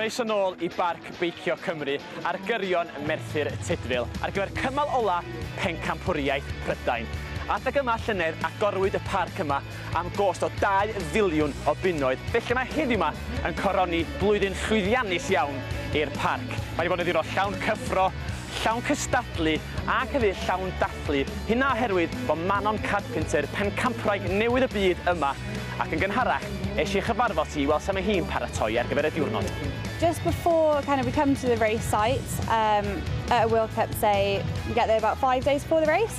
Croeso nôl i Barc Beicio Cymru ar gyrion Merthyr Tudful ar gyfer cymal ola' Pencampwriaeth Prydain. Adeg yma llynedd agorwyd y parc yma am gost o dau filiwn o bunnoedd, felly mae heddiw 'ma yn coroni blwyddyn llwyddiannus iawn i'r parc. Mae wedi bod yn ddiwrnod llawn cyffro, llawn cystadlu ac hefyd llawn dathlu, hynna oherwydd bod Manon Carpenter, pencampwraig newydd y byd yma, ac yn gynharach es i chyfarfod hi i weld sut mae hi'n paratoi ar gyfer y diwrnod. Just before kind of we come to the race site um, at a World Cup say we get there about five days before the race.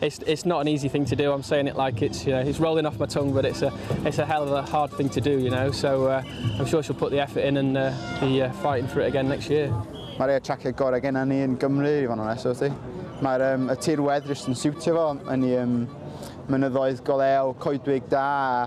It's, it's not an easy thing to do. I'm saying it like it's, you know, it's rolling off my tongue, but it's a, it's a hell of a hard thing to do, you know. So uh, I'm sure she'll put the effort in and uh, be uh, fighting for it again next year. Mae rhai traciau gorau gen ni yn Gymru, i fod yn onest, wrthi. Mae'r um, y tirwedd jyst yn siwtio fo, yn i um, mynyddoedd golew, coedwig da,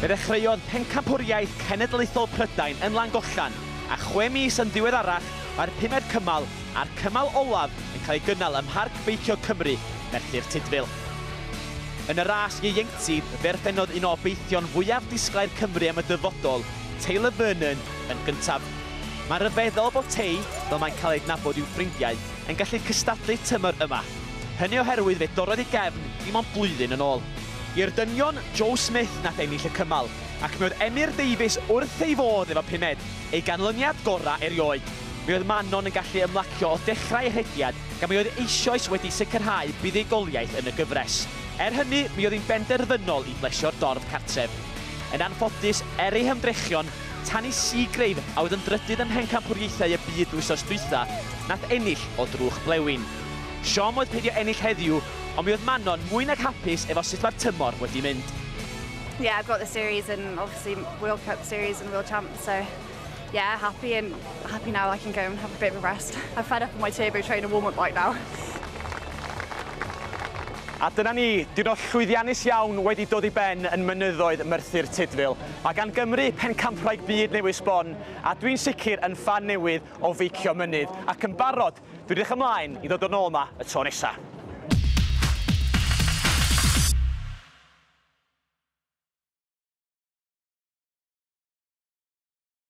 Fe ddechreuodd Pencampwriaeth Cenedlaethol Prydain yn Langollen, a chwe mis yn ddiweddarach mae'r pumed cymal a'r cymal olaf yn cael ei gynnal ym Mharc Beicio Cymru, Merthyr Tudful. Yn y ras ieuenctid, fe orffennodd un o obeithion fwyaf disglair Cymru am y dyfodol, Taylor Vernon, yn gyntaf. Mae'n rhyfeddol bod Tay, fel mae'n cael ei adnabod i'w ffrindiau, yn gallu cystadlu tymor yma. Hynny oherwydd fe dorrodd ei gefn dim ond blwyddyn yn ôl. I'r dynion, Joe Smith nath ennill y cymal, ac mi oedd Emyr Davies wrth ei fodd efo pumed, ei ganlyniad gorau erioed. Mi oedd Manon yn gallu ymlacio o dechrau ei rhediad gan mi oedd eisioes wedi sicrhau buddugoliaeth yn y gyfres. Er hynny, mi oedd hi'n benderfynol i blesio'r dorf cartref. Yn anffodus, er ei hymdrechion, Tanni Seagrave, a oedd yn drydydd ym Mhencampwriaethau y Byd wythnos dwytha, nath ennill o drwch blewyn. Siom oedd peidio ennill heddiw, Ond mi oedd Manon mwy nag hapus efo sut mae'r tymor wedi mynd. Yeah, I've got the series and obviously World Cup series and World Champs, so yeah, happy and happy now I can go and have a bit of a rest. I'm fed up of my turbo train and warm-up right now. A dyna ni, diwrnod llwyddiannus iawn wedi dod i ben yn mynyddoedd Merthyr Tudful. Mae gan Gymru pencampwraig byd newydd sbon, a dwi'n sicr yn ffan newydd o feicio mynydd, ac yn barod Dwi edrych ymlaen i ddod yn ôl 'ma y tro nesa.